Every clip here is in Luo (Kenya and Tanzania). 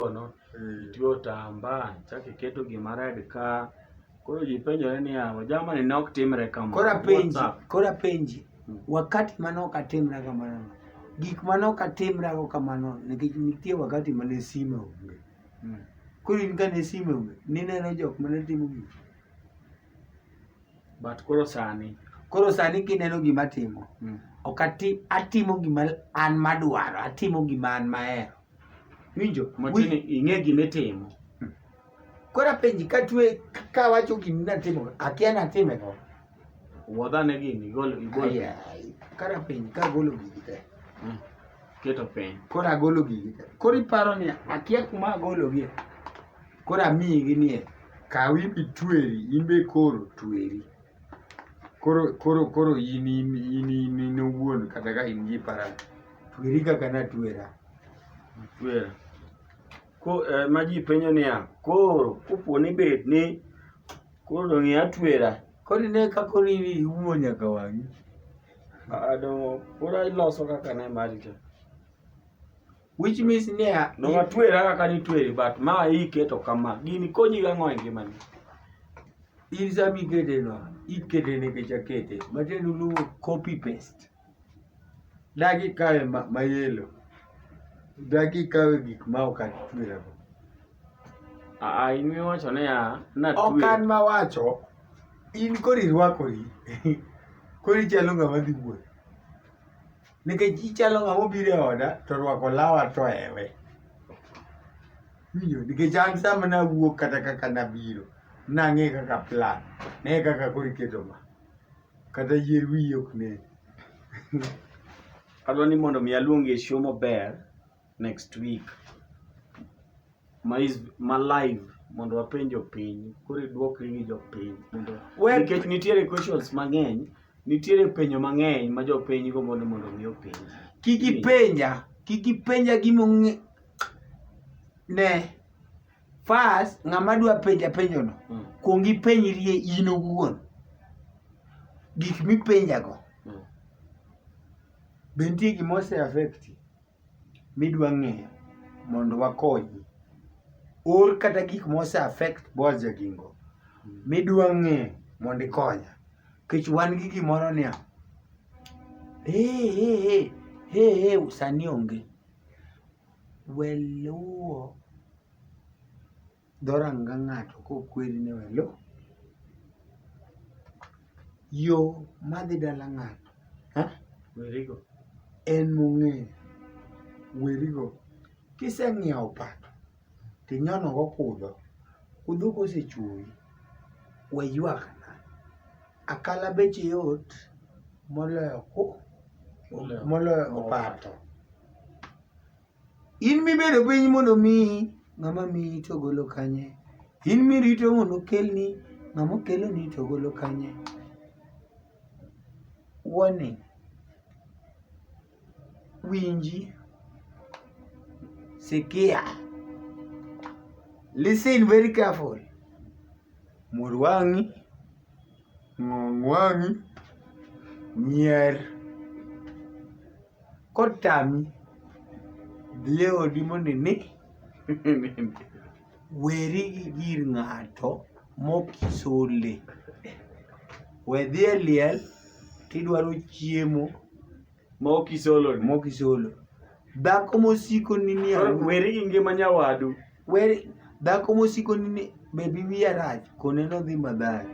kono, itiyo otambaa, chak iketo gima red ka. Koro ji penjore niya, jamani ne ok timre kamano. Koro apenji, WhatsApp. koro apenji, Mm. wakati mane ok atimra kamano, gik mane ok atimrago kamano, nikech nitie wakati mane sime onge. Mm. Koro in kane sime onge, nineno jok mane timo gik. But koro sani. Koro sani kineno gima atimo, Mm. ok ati, atimo gima an madwaro, atimo gima an mahero. Winjo. Machini ing'e gima itimo. Hmm. Koro apenji ka twe ka wacho gima natimo, akia natime ang'o? Wuodh ane gini, igol igol. Kara penji ka agolo gigi te. Hmm. Keto piny. Koro agolo gigi te. Koro iparo ni akia kuma agologie. Koro amiyi ginie. Kaw ibi tweri, in be koro tweri. Koro koro koro in in in in owuon kata ka in gi parani. Tweri kaka natwera. Twera. Ko eh, ma ji penjo niya, koro kopo ni bed ni koro dong' ia twera. Koro ine ka koro iumo nyaka wang'i. Ah, dong' koro iloso kaka ne mari cha. Which means niya, Dong' atwera kaka nitweri but ma iketo kama. Gini konyi gang'o e ngimani? in sama ikete no, ikete nikech akete. Matiende uluongo copy paste. Dagi kawe mayelo. Dagi kawe gik ma ok atwerago. Aa, in miwacho niya, natwe. Ok an mawacho, in koro irwakori. koro ichalo ng'ama dhi wuoth. Nikech ichalo ng'ama obiro e oda to orwako lawa to ewe. Winjo, nikech an sama nawuok kata kaka nabiro, nang'e kaka plan, ne kaka koro iketo ma. Kata yier wiyi ok nen. Adwa ni mondo mi aluongi e show maber next week. Ma is ma live mondo wapenj jopiny. Koro idwokri gi jopiny mondo Well- nikech nitiere questions mang'eny, nitiere penjo mang'eny ma jopiny go mondo mondo mi openj. Kik ipenja, kik ipenja gimong'e ne First, ng'ama dwa penja penjono, mm. kuong ipenjrie in owuon gik mipenjago mm. be nitie gima ose affect midwa ng'eyo mondo wakonyi or kata gik mose affect boaz jagingo mm. midwa ng'eyo mondo ikonya kech wan gi gimoro niya hey, hey, hey, hey, hey, sani onge We luwo dhoranga ng'ato kokweri ni we luw. Yo madhi dala ng'ato en mong'eyo, werigo. Kiseng'iewo opato tinyonogo kudho, kudho kosechuoyi, we ywakna. Akala beche yot moloyo ku moloyo opato. In mibedo piny mondo omiyi, ng'ama miyi to ogolo kanye? In mirito mondo okelni, ng'ama okeloni to ogolo kanye? Warning. winji, sikia. Listen very careful. Mur wang'i, ng'ong wang'i, nyier. Kotami, dhi e odi mondo ine. Weri gi gir ng'ato mokisole. We dhi e liel tidwaro chiemo mokisoloni. mokisolo. Dhako mosikoni ni Koro aru- Weri gi ngima nyawadu. weri dhako mosikoni ni bebi wiya rach kone nodhi madhari.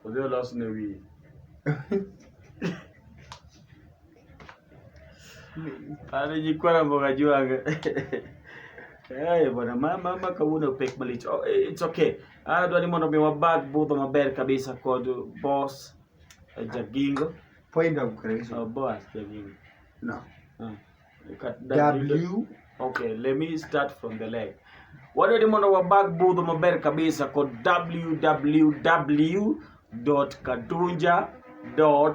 Odhi olosne wiye. Alijikuwa na mboga juu anga. Eh, bwana mama mama kauna pek malich. Oh, eh, it's okay. Ah, dwani mondo mi wabag budho maber kabisa kod boss eh, Jagingo. Point of grace. Oh, boss Jagingo. No. Ah. W. Okay, let me start from the leg. Wadwani mondo wabag budho maber kabisa kod www.kadunja.com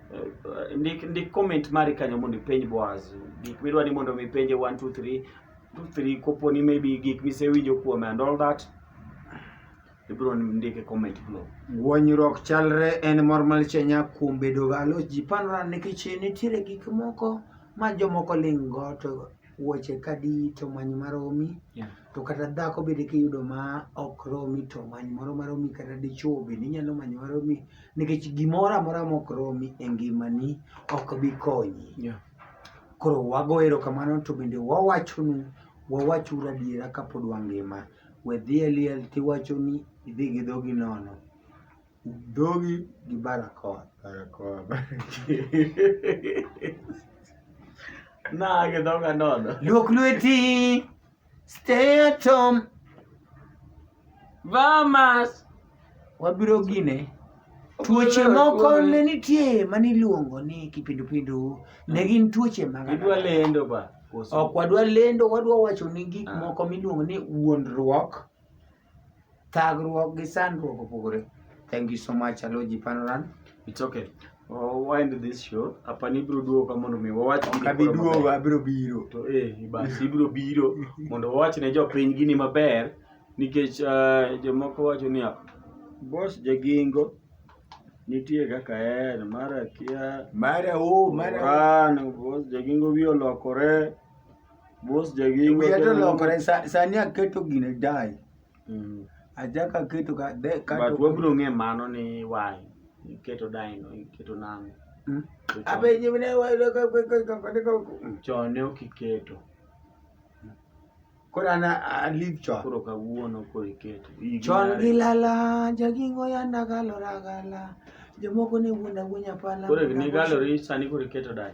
Eh, ndik ndik comment mari kanyo mondo ipenj Boaz gik midwa ni mondo mipenje 1 2 3 2 3 kopo ni maybe gik misewinjo kuome and all that ibiro ndike comment below gwonyruok chalre en mor malchenya kuom bedo galo ji panora nikech nitiere gik moko ma jomoko ling' go to wuoche kadi to many maromi yeah. to kata dhako bende kiyudo ma ok romi to many moro maromi kata dichuo bende inyalo manyo maromi nikech gimoro amora ma ok romi e ngimani ok bi konyi yeah. koro wago erokamano to bende wawachonu wawachuru adiera kapod wangima we dhi e liel tiwacho ni idhi gi dhogi nono Dhogi gi barakoa. Barakoa. Nage dhoga nono. Luok lweti. Stay at home. Vamas. Wabiro gine. Tuoche moko ne nitie mane iluongo ni kipindupindu. Ne gin tuoche mag. Idwa lendo ba. Ok wadwa lendo, wadwa wacho ni gik ah. moko miluongo ni wuondruok. Thagruok gi sandruok opogore. Thank you so much Aloji Panoran. It's okay. We'll wind this show. Apa ni biro duogo ka mondo mi wawach gini Kabi koro duogo maber. abiro biro. To eh basi ibiro biro mondo wawach ne jopiny gini maber nikech eh, jomoko wacho niya bos jagingo nitie kaka en mara kia Mara o mara. Oran, bos jagingo wiye olokore Mos jagi Wiya to lokore sa- sani aketo gine dai. Mm. Achako aketo ka de ka But wabiro ng'e mano ni why iketo dino iketo nang'o. Mm. To chon- Abe nyime ne wa ka ka ka ka ka ka. Chon ne ok iketo Kora na a leave chon. koro kawuono koro iketo. Higni Chon ariyo. gilala jagingo yanda galora gala. Jomoko ne wuonda wuonya pala. Koro higni galori sani koro iketo dai.